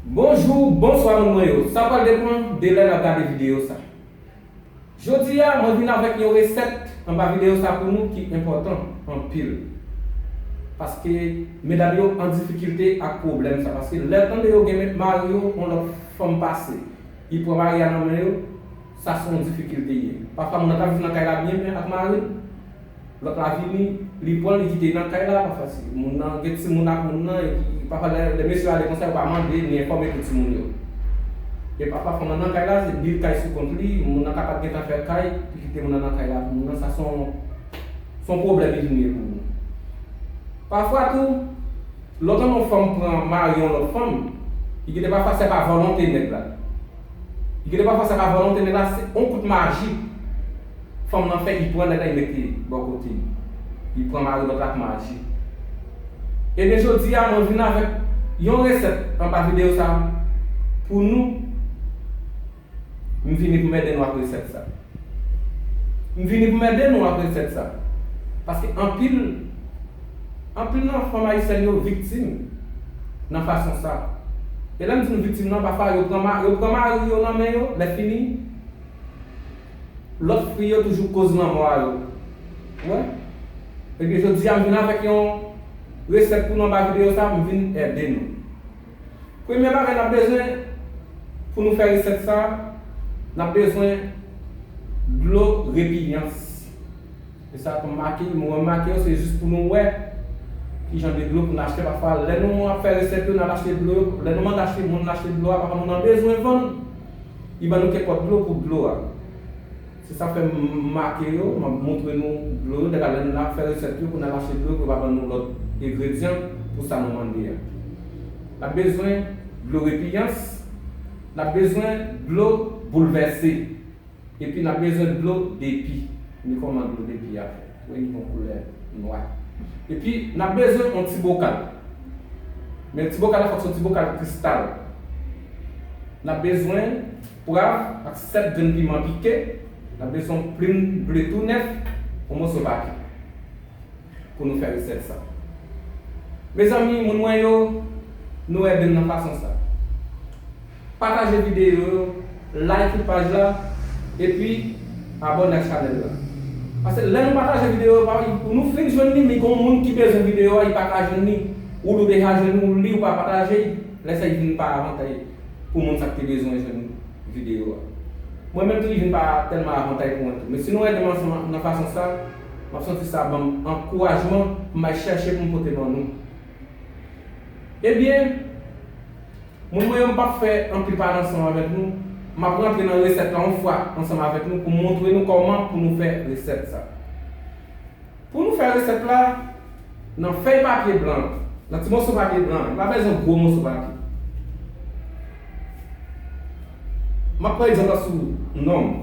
Bonjou, bonswa moun mwen yo! Sa pral depan de lè nap gade videyo sa. Jodi a mwen vin avèk yon resèt anba videyo sa pou nou ki enpòtan anpil. Paske medam yo an difikilte ak pwoblèm sa. Paske lè tande yo gen mari yo yon lòt fanm pase, li pran mari a nan men yo, sa son difikilte ye. Pafwa moun nan ka viv nan kay la byen byen ak maril. Lòt la vini, li pran li kite nan kay la, pafwa ti moun nan gen timoun ak moun nan epi pafwa lè mesye ale konsa yo pa mande ni enfòme pou timoun yo. E pafwa fanm lan nan kay la se bil kay sou kont li, moun nan ka pat gentan fè kay li kite moun nan nan kay la pou moun nan sa son son pwoblèm li vin ye pou moun. Pafwa tou lòt lan yon fanm pran mari yon lòt fanm, li gen de pafwa se pa volonte nèg la. Li gen de pafwa se pa volonte nèg la se yon kout maji. Fanm nan fè li pran nèg la li mete bò kote li. Li pran mari lòt la ak maji. Ebyen jodi a mwen vin avèk yon resèt anba videyo sa pou nou. M vini pou m ede nou ak resèt sa. M vini pou m ede nou ak resèt sa. Paske anpil anpil nan fanm ayisyèn yo viktim nan fason sa. E lè m di nou viktim nan pafwa yo pran yo pran mari yo nan men yo lè fini. Lot fwi yo toujou koz lanmò a yo wè ebyen jodi a m vin avèk yon resèt pou nou anba videyo sa m vin ède nou premye bagay nap bezwen pou nou fè resèt sa nap bezwen dlo repilyans. Se sa ke m make yo. Nou remake yo, se jis pou nou wè ki jan de dlo pou n achte. Pafwa, lè nou ap fè resèt yo, n al achte dlo yo. Lè nou mande achte, moun achte dlo a, pafwa moun an bezwen vann, li ban nou kèk lòt dlo pou dlo a. Se sa fè m make yo, m ap montre nou dlo yo. Dèfwa, lè n ap fè resèt yo, pou n al achte dlo yo, pou yo pa ban nou lòt engredyan pou sa nou mande a. N ap bezwen dlo repiyans. N ap bezwen dlo boulvèse. Epi nap bezwen dlo depi. Men kòman dlo depi a fèt. Wè li gon koulè nwa. Epi nap bezwen yon ti bokal. Men ti bokal la fòk se yon ti bokal kristal. Nap bezwen pwav ak 7 grenn piman pike. Nap bezwen yon plim ble tou nèf, yon moso pake. pou nou fè resèt sa. Mezanmi moun mwen yo nou edem nan fason sa. Pataje video yo like paj la epi abone ak chanel la. Pase lè nou pataje video yo payi pou nou fin jwenn li mi gon moun ki bezwen video a i paka jwenn li ou lou deja jwenn ou li ou pa pataje i lè sa i vin pa avantay pou moun sak te bezwen jwenn video a. Mwen menm tou i vin pa telman avantay pou mwen tou. Mesi nou edem ansanm nan fason sa. Map santi sa banm ankourajman pou m al chèche pou m pote ban nou. Ebyen, moun mwen yo m pap fè anpil pale ansanm avèk nou, map rantre nan resèt la yon fwa ansanm avèk nou pou m montre nou kòman pou nou fè resèt sa. Pou nou fè resèt la, nan fèy papye blan an, nan ti moso papye blan an, nou pa bezwen gwo moso papye. Map pran egzanp la sou nonm.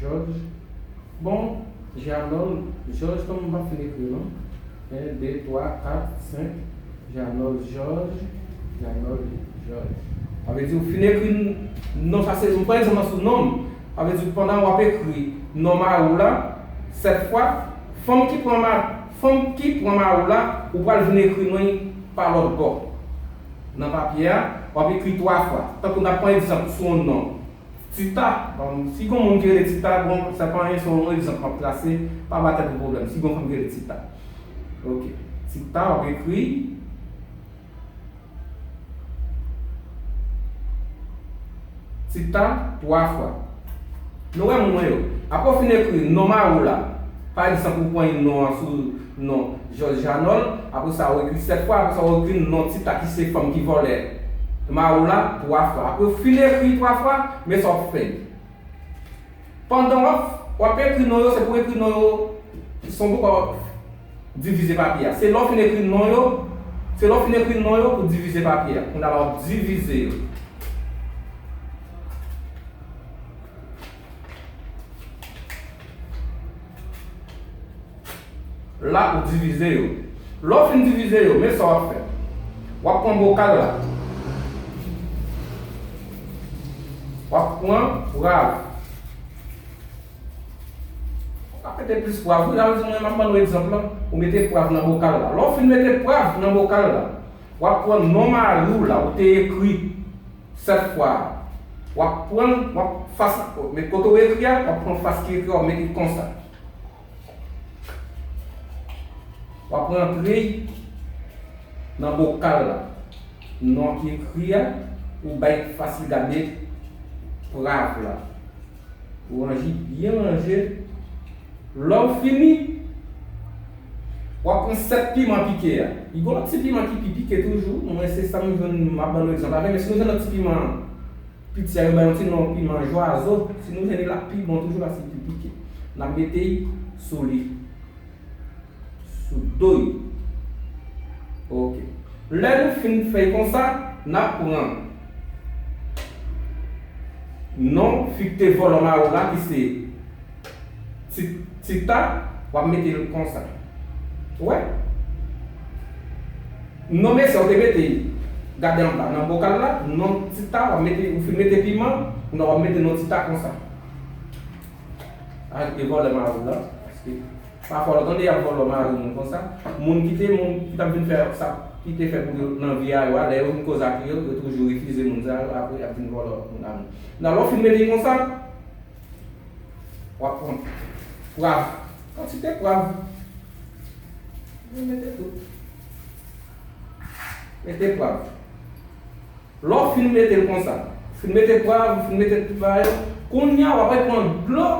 Jòj bon Jeannol jòj kòm m pa fin ekri non 1 2 3 4 5 Jeannol jòj Jeannol jòj sa vle di ou fin ekri non sa se m pran egzanp lan sou non m sa vle di pandan w ap ekri non mari w la 7 fwa fanm ki pran fanm ki pran mari w la ou pral vin ekri non l pa lòtbò. Nan papye a, w ap ekri twa fwa. Tankou n ap pran egzanp sou yon non. Tita, bon, si gen yon moun ki rele Tita, bon, sa pa anyen, se yon egzanp m ap trase, pa ba tèt ou pwoblèm. Si gen yon fanm ki rele Tita. Ok. Tita, w ap ekri. Ti tan, twa fwa. Nou wè mwen yo. Apre w fin ekri non mari w la, pa egzanp ou pran yon non an sou non Jòj Janòl, apre sa ou ekri sèt fwa, apre sa ou ekri non Ti ta ki se fanm ki vòlè mari w la, twa fwa. Apre w fin ekri twa fwa, men sa w ap fè. Pandan w ap ekri non yo, se pou w ekri non yo son pòt. divize papye a. Se lè w fin ekri non yo, se lè w fin ekri non yo pou divize papye a. Kounya la wap divize yo. La ou divize yo. Lè w fin divize yo, men sa wap fè. Wap pran bokal la. Wap pran pral. Ou ka mete plis pwav wi la ou di mwen map bannou egzanp lan ou mete pwav nan bokal la lè ou fin mete pwav nan bokal la wap pran non mariw la ou te ekri 7 fwa a wap pranl wap fas men kote ou ekri a wap pran fas ki ekri a wap met li konsa wap rantre nan bokal la non ki ekri a ou bay fas li gade pwav la. Ou anji byen manje, lè ou fini, w'ap pran 7 piman pike a. Li gen yon ti piman ki pi pike toujou, mwen se sa m jwenn, m'ap ban nou egzanp la. Men si nou jwenn lòt ti piman piti a, yo bay yon ti non piman jwazo, si nou jwenn li l'ap pi bon toujou paske li pi pike. N'ap mete sou li. sou do yo. Ok. Lè nou fin fè konsa, n ap pran non fi k te vòlò maro la ki se Tita, w ap mete l konsa. Ou wè? Non mesye a ou te mete, gade anba nan bokal la, non Tita, w ap mete, ou fin mete piman, kounya w ap mete non Tita konsa. Sa ki te vòlò maro la. Pafwa lè w tande y ap vòlò mari moun konsa, moun ki te moun ki t ap vin fè sa ki te fèt pou yo nan vi a yo a, lè yo vin koz ak yo, yo toujou refize moun sa yo apre y ap vin vòlò moun a moun. Nan lè w fin mete l konsa, w ap pran pwav, kantite pwav, mete tout, mete pwav. Lè w fin mete l konsa, ou fin mete pwav, ou fin mete tout bagay yo, kounye a w ape pran dlo,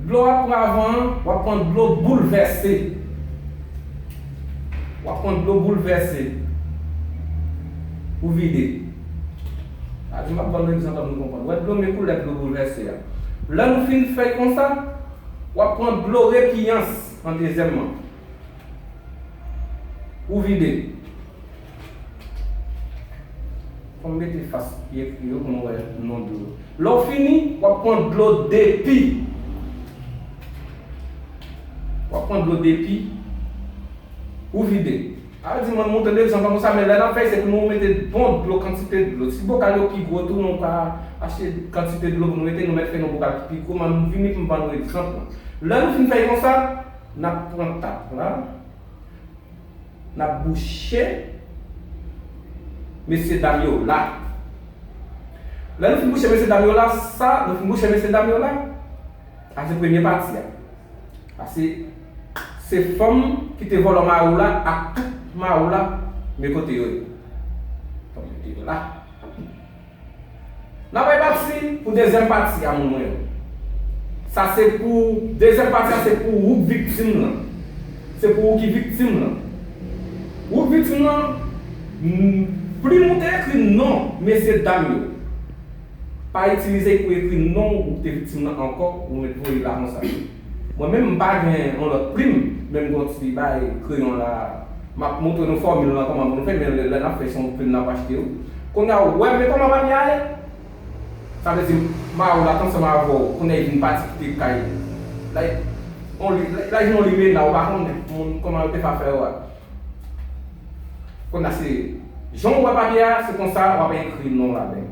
dlo ak pwav an, w ap pran dlo boulvèse, w ap pran dlo boulvèse ou vide. Sa di m ap ban nou egzanp an nou konprann. Ou wè dlo men koulè dlo boulvèse a. Lè nou fin fè konsa, w ap pran dlo repiyans an dezyèmman, ou vide. Fò m mete fas pye fri yo pou m wè non dlo. Lè w fini, w ap pran dlo depi. W ap pran dlo depi pou w vide. A di mwen moute depi san pa konsa men lè n ap fè se pou nou mete bon dlo kantite dlo. Si bokal yo pi gwo tou nou ka achte kantite dlo pou nou mete nou mèt fè yon bokal ki pi gwo men m vini pou m ban nou egzanp lan. Lè nou fin fè konsa, n ap pran tap la. Nap bouche mesye dam yo la. Lè nou fin bouche mesye dam yo la sa nou fin bouche mesye dam yo la a se premye pati a a se se fanm ki te vòlò mari w la ak tout mari w la me kote yo ye fanm yo te la. Nan bay pati pou dezyèm pati a moun mwen yo. Sa se pou dezyèm pati a se pou ou k viktim lan. Se pou ou ki viktim lan. Ou k viktim lan plim ou te ekri non mesye dam yo. Pa itilize y pou ekri non ou k te viktim lan ankò ou met voye la konsa. Mwen menm m pa gen yon lòt plim men m gen yon ti bay kreyon la m ap montre nou fòmil lan kòman pou nou fè men lè n ap fè se yon plim n ap achte wi Kounye a ou wè men kòman papye a ye Sa vle di ma ou la t ansanm avè w kounye a li vin pati kite kay li la li on li la li vin on limena ou pa konnen moun kòman yo te fè afè yo a Kounye a se jan ou wè papye a se konsa w ap ekri non w ladan l.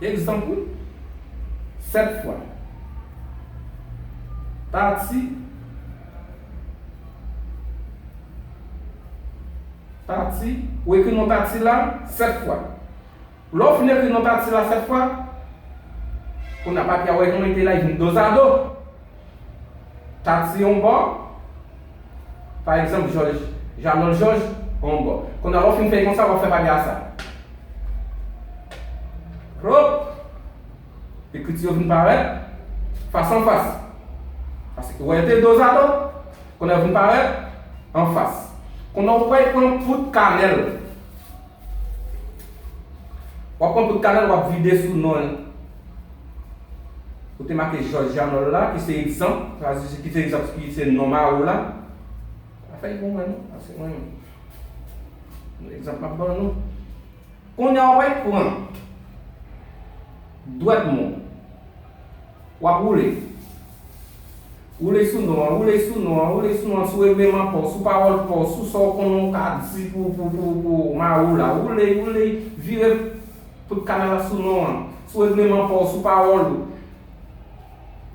Egzanp, Wi, sèt fwa. Pati Pati Ou ekri non Pati la sèt fwa. Lè w fin ekri non Pati la sèt fwa, kounye a papye a wè non li te la, li vin dozado. Tatie yon bò, pa egzanp Jòj, Janòl Jòj, yon bò. Kounye a lè w fin fè l konsa, w ap fè bagay a sa. Hop! Ekriti yo vin parèt fas an fas. Paske wè yo te dozado, kounye a yo vin parèt an fas. Kounye a ou pral pran poud kanèl. Wap pran bout kanal wap vide sou non ou te make Jòj Janòl la ki se egzanp, ki se egzanp ki se non mari w la. Pa fè l pou mwen non, se mwen menm. Bon egzanp map ban nou. Kounye a wap al pran dwèt moun wap woule. Woule sou non an, woule sou non an, woule sou non an, sou regleman pa w, sou pawòl pa w, sou sa w konnen w ka di pou w mare w la. Woule, woule, vire tout kanal la sou non an, sou regleman pa w, sou pawòl ou.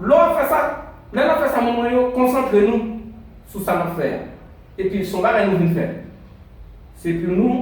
Lè w ap fè sa, lè n ap fè sa moun mwen yo, konsantre nou sou sa n ap fè a. Epi son bagay nou vin fè. Se pou nou.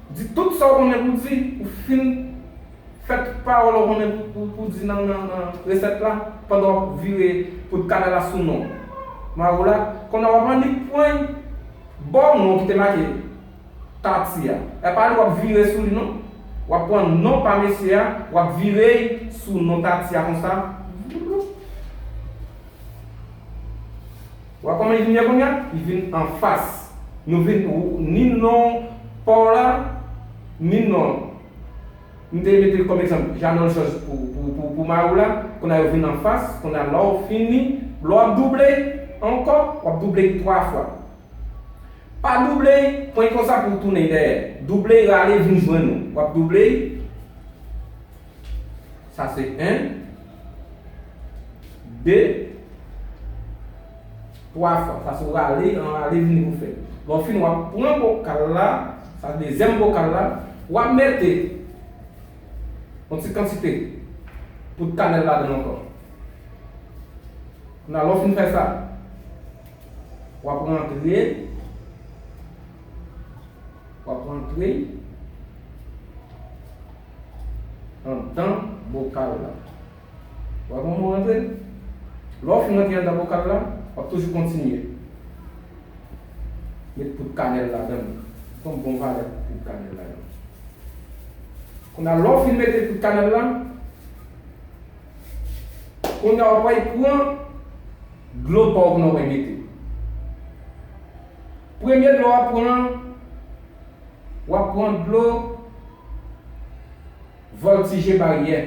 Di tout sa w konnen pou di, ou fin fè tout pawòl ou konnen pou di nan resèt la pandan w ap vire poud kanèl la sou non Maro la, konnè w ap annik pwen bò non ki te make Tati a, e pa li w ap vire sou li non, w ap pran non pa mesye a w ap vire y sou non Tati a konsa, vloup. Wa koman li vin ye kounya li vin anfas nou vin ou ni non paw la ni non m te metel kòm egzanp Janòl Jòj pou mariw la kounya yo vin anfas kounya lèw fini lè wap double ankò wap double li 3 fwa pa double pwen konsa pouw tounen dèyè double rale vin jwenn ou wap double Sa se 1 2 3 fwa. Sa se w rale, an rale vini pou fè. Lè w fini w ap pran vokal la, sa se dezyèm vokal la, w ap mete yon ti kantite poud kanèl ladan l ankò. Kounye a lè w fin fè sa, w ap rantre, w ap rantre. anndan bokal la. Ou wè kòman ou rantre l? Lè ou fin rantre anndan bokal la, w ap toujou kontinye. Met poud kanèl ladan l. Ou pran bon valè poud kanèl la yo. Kounye a, lè ou fin mete poud kanèl la, kounye a w ap al pran dlo pòv nan ou te mete. Premye dlo wap pran wap pran dlo voltije baryè.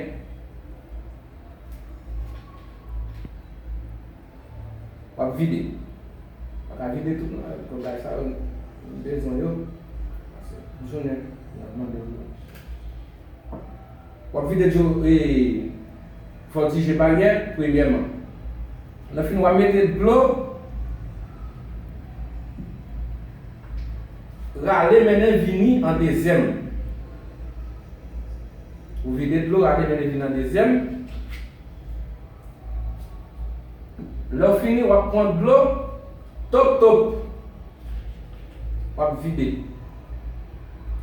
Wap vide. Pa ka vide tout nan al pran bagay sa yo nou bezwen yo. Pase jounen nap mande dlo. Wap vide djo fò ti je panyè premyèman lè fin wa mete dlo rale mennen vini an dezyèm ou vide dlo rale mennen vini an dezyèm lèw fini wap pwan dlo top top wap vide.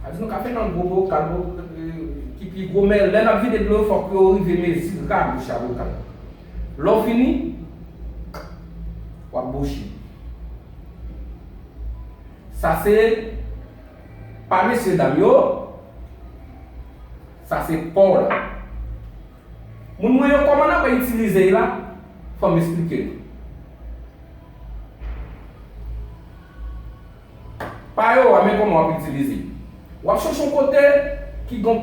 Sa vle di nou ka fè nan gwo bokal, bokal ki pi gwo men lè nap vide dlo yo fòk yo rive mezi rabouch a bokal la. Lè w fini, wap bouche. Sa se pa mesye dam yo, sa se pa w la. Moun mwen yo kòman nap itilize y la, fò m esplike nou. Pa yo a men kòman wap itilize. Wap chèche yon kote ki gon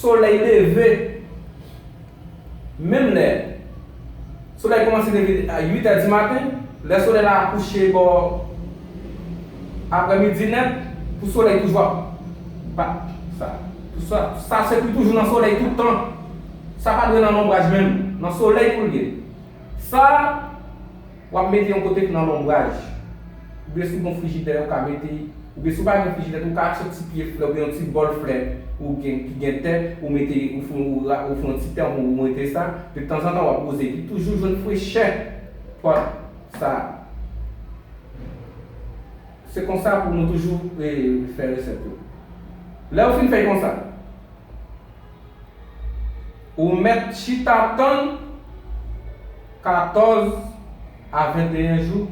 solèy leve menm lè solèy kòmanse leve a 8 è di maten, lè solèy la kouche bò aprè midi nèt pou solèy toujou ap bat sa. Sa se pou toujou nan solèy tout tan. Sa pa dwe nan lonbraj menm. Nan solèy pou l ye. Sa. W ap mete yon kote k nan lonbraj. Oubyen si w gen yon frijidè, ou ka mete. Oubyen si w pa gen frijidè tou, ou ka achte yon ti pye flè oubyen yon ti bòl flè ou gen, ki gen tè, ou mete, ou fè yon, ou fè yon ti tè ou mete sa, de tanzantan w ap woze epi toujou jwenn frechè pòt sa a. Se konsa pou nou toujou fè resèt yo. Lè ou fin fè konsa. Ou mèt chita tann 14 a 21 jou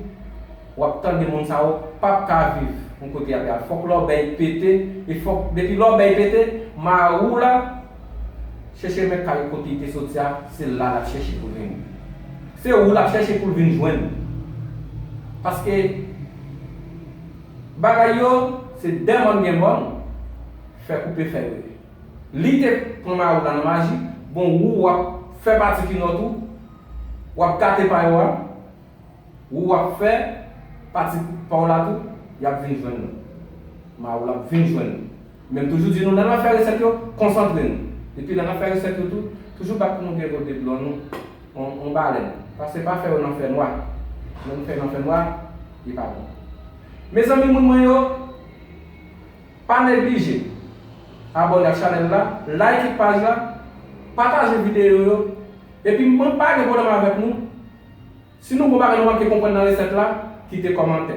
wap tande moun sa yo pap ka viv yon kote yap yal fòk lòbèy pete e fòk depi lòbèy pete marou la chèche men kay kote li te soti a se la lap chèche poul vin se ou lap chèche poul vin jwenn paske bagay yo se dè mòn gen mòn fè koupe fè yo ye. Lite pran mayo la nan maji bon wou wap fè pati kinò tou wap gate pa yo a wou wap fè pati paw la tou yap vin jwenn nou mayo la ap vin jwenn nou menm toujou di nou lè nap fè resèt yo konsantre nou epi lè nap fè resèt yo tou toujou bat pou nou gen godet dlo nou yon balèn pase pa fè yo nan fè nwa lè nou fè yo nan fè nwa li pa bon mezanmi moun mwen yo. Pa neglije abone ak chanel la, like paj la, pataje video yo, epi mwen pa gen pwoblem avek nou, si nou gon bagay nou manke konprann nan reset la, kite komantè.